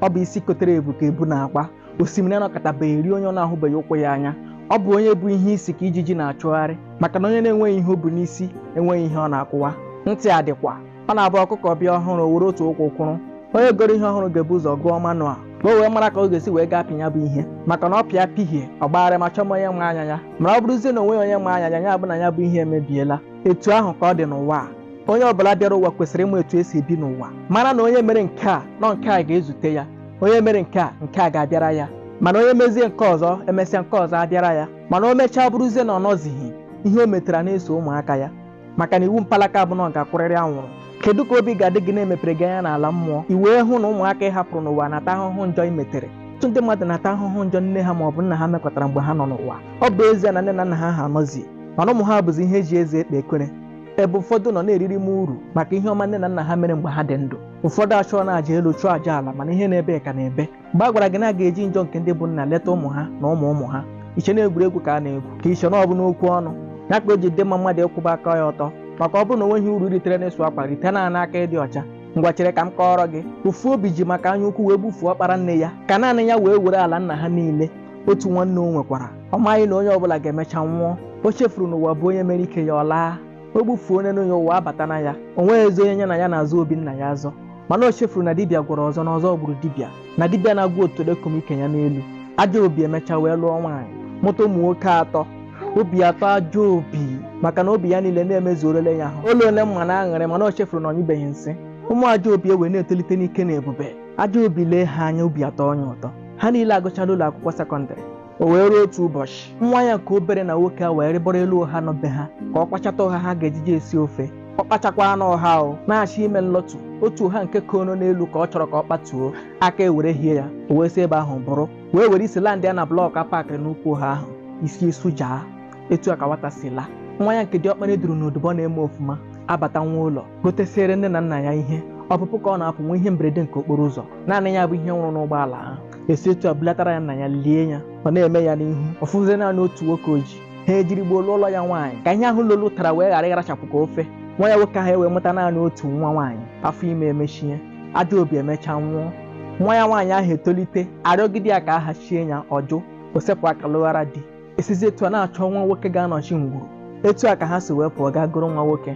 ọ bụ isi kotere ebu ka ebu na-agba osimiri anọkatabeghị eri onye ọ na-ahụbeghị ụkwụ ya anya ọ bụ onye bu ihe isi ka ijiji na-achụgharị maka na onye na-enweghị ihe o bu n'isi enweghị ihe ọ na-akụwa ntị a dịkwa ọ na-abụ ọkụkọ bịa ọhụrụ o were otu ụkwụ kwụrụ onye goro ihe ọhụrụ ga-ebu ụzọ gụọ manual ka o wee mara ka ọ ga-esi wee ga-apị ya bụ ihe maka na ọ pịa pịhie ọ gbagharịma chọma onye ma anya ya mana ọ bụrụzie na onweghị onye ma anya ya ya bụ na ya bụ ihe emebiela etu ahụ ka ọ dị n'ụwa a onye ọbụla bịara ụwa kwesịrị ịma etu esi ebi n'ụwa mara na onye mere nke a na nke a ga-ezute ya onye mere nke a nke a ga-abịara ya mana onye mezie nke ọzọ emesịa nke ọzọ abịara ya mana o mechaa bụrụzie na ọ nọzighị ihe o metara na-eso ụmụaka ya maka na iwu mpalaka bụ na ọ ga-akwụrịrị anwụrụ kedu ka obi ga-adị gị na emepere gị anya n'ala mmụọ i wee hụ na ụmụaka ị hapụrụ n'ụwa na-ata ahụhụ njọ i metere ọtụtụ ndị mmadụ na-ata ahụhụ njọ nne ha ma ọ bụ nna ha mekọtara mgbe ha nọ n'ụwa ọ bụ ezie na nne na nna ha anọzi mana ụmụ ha bụzi ihe eji eze ekpe ekwere ebe ụfọdụ nọ na-eriri m uru maka ihe ọma nne na nna ha mere mgbe ha dị ndụ ụfọdụ achụọna aja elu chụọ aja ala mana ihe na-ebe ka na-ebe mgbe a gwara gị na a ga-eji njọ nke ndị bụ nna leta ụmụ ha na ụmụ ụmụ ha iche na egwuregwu ka a na-egwu ka iche na ọ bụ n'okwu ọnụ ya ka o ji dị mma mmadụ ịkwụba aka ya ọtọ maka ọ bụrụ na onweghị uru i ritere n'ịsụ akwa rite naanị aka ịdị ọcha ngwa chere ka m kọọrọ gị ofu obi ji maka anya ukwu wee gbufuo ọkpara nne ya ka naanị ya wee were ala nna ha niile otu nwanne o nwekwara ọ maghị na onye ọbụla ga-emecha nwụọ o chefuru na ụwa bụ onye mere ike ya ọ laa o gbufuo nwanne ya ụwa abata na ya o nweghịzi onye ya na ya na-azọ obi nna ya azọ mana o chefuru na dibịa gwọrọ ọzọ na ọzọ gburu dibịa na dibịa na-agwọ otolo ekomeghị ike ya n'elu ajọ obi emecha wee lụọ nwaanyị mụta ụmụ nwoke atọ obi atọọ ajọ obi maka na obi ya niile na-emezuorele ya ahụ ụlọ ole mma na aṅụrị mana o chefuru na ọ nyụbeghị nsị ụmụ ajọ obi ewee na-etolite n'ike na ebube ajọ obi lee ha anya obi atọọ ya ụtọ ha niile agụchala ụlọ akwụkwọ sekọndịrị o wee ruo otu ụbọchị nwa ya nke obere na nwoke ewee rịbọrọ elu ụha nọ be ha ka ọ kpachata ụha ha ga-ejije esi ofe ọ kpachakwanụ ụha ọ na-achọ ime nlọtu otu ụha nke kono n'elu ka ọ chọrọ ka ọ kpatuo aka ewere hie ya o wee si ebe ahụ bụrụ wee were isi landịa na blọk a pakịrị n'ukwu ụha ahụ isi esujaa etu a ka nwata si laa nwa ya nke diọkpara e duru n'odibo na-eme ọfụma abata nwa ụlọ gotesiere nne na nna ya ihe ọpụpụ ka ọ na-apụ nwee ihe mberede nke okporo ụzọ naanị ya bụ ihe nwụrụ n'ụgbọala ahụ esi etu a bulatara ya nna ya lie ya ọ na-eme ya n'ihu ọ fọzie naanị otu nwoke o ji ha ejiri gboo lụọrọ ya nwaanyị ka ihe ahụ lolu tara wee ghara ịrachapụ ka ofe nwa ya nwoke ahụ ewee mụta naanị otu nwa nwaanyị afọ ime emechie ajọ obi emechaa nwụọ nwa ya nwaanyị ahụ etolite arịọgide ya ka a hachie ya ọ jụ o sepụ aka lụghara di esizi etu a na-achọ nwa nwoke ga-anọchi ngwuru etu a ka ha si wee pụọ gaa goro nwa nwoke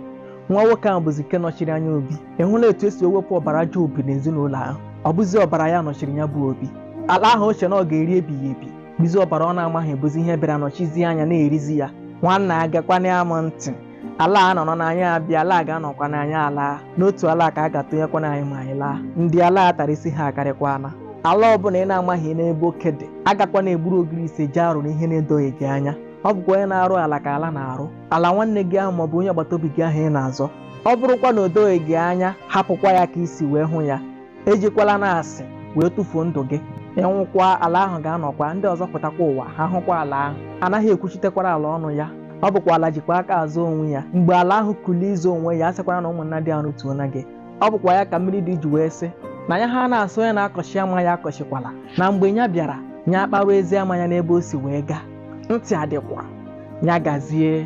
nwa nwoke ahụ bụzi nke nọchiri anya obi ị hụla etu esi ewepụ ọbara ajọ obi n'ezinụlọ ahụ ọ bụzi ọbara ya nọchiri ya bụ obi ala ahụ o che na ọ ga-eri ebighị ebi bụzi ọbara ọ na-amaghị bụzi ihe bịara nọchizie anya na-erizi ya nwanna agakwana ya m ntị ala a nọrọ n'anyị abịa ala a ga-anọkwa n'anyị alaa n'otu ala ka a ga-atụnyekwana anyị ma anyị laa ndị ala a tara isi ha akarịkwana ala ọbụla ị na-amaghị n'ebe oke dị agakwana egburu ogirisi jee arụ n'ihe na-edoghị gị anya ọ bụkwa onye na-arụ ala ka ala na-arụ ala nwanne gị ahụ maọbụ onye agbata obi gị ahụ ị na-azọ ọ bụrụkwa na o doghị gị anya hapụkwa ya ka i si wee hụ ya ejikwala na asị wee tụfuo ndụ gị ị nwụkwa ala ahụ ga-anọkwa ndị ọzọ pụtakwa ụwa ha hụkwa ala ahụ anaghị ekwuchitekwara ala ọnụ ya ọ bụkwa ala jikwa aka azọ onwe ya mgbe ala ahụ kulie ịzọ onwe ya asịkwara na ụmụnna dị arụ tuo na gị ọ bụkwa ya ka mmiri ide ji wee sị na ya ha na-asị onye na-akọchi ama ya akọchikwala na mgbe ya bịara ya akparụ ezi ama ya n'ebe o si wee gaa ntị adịkwa ya gazie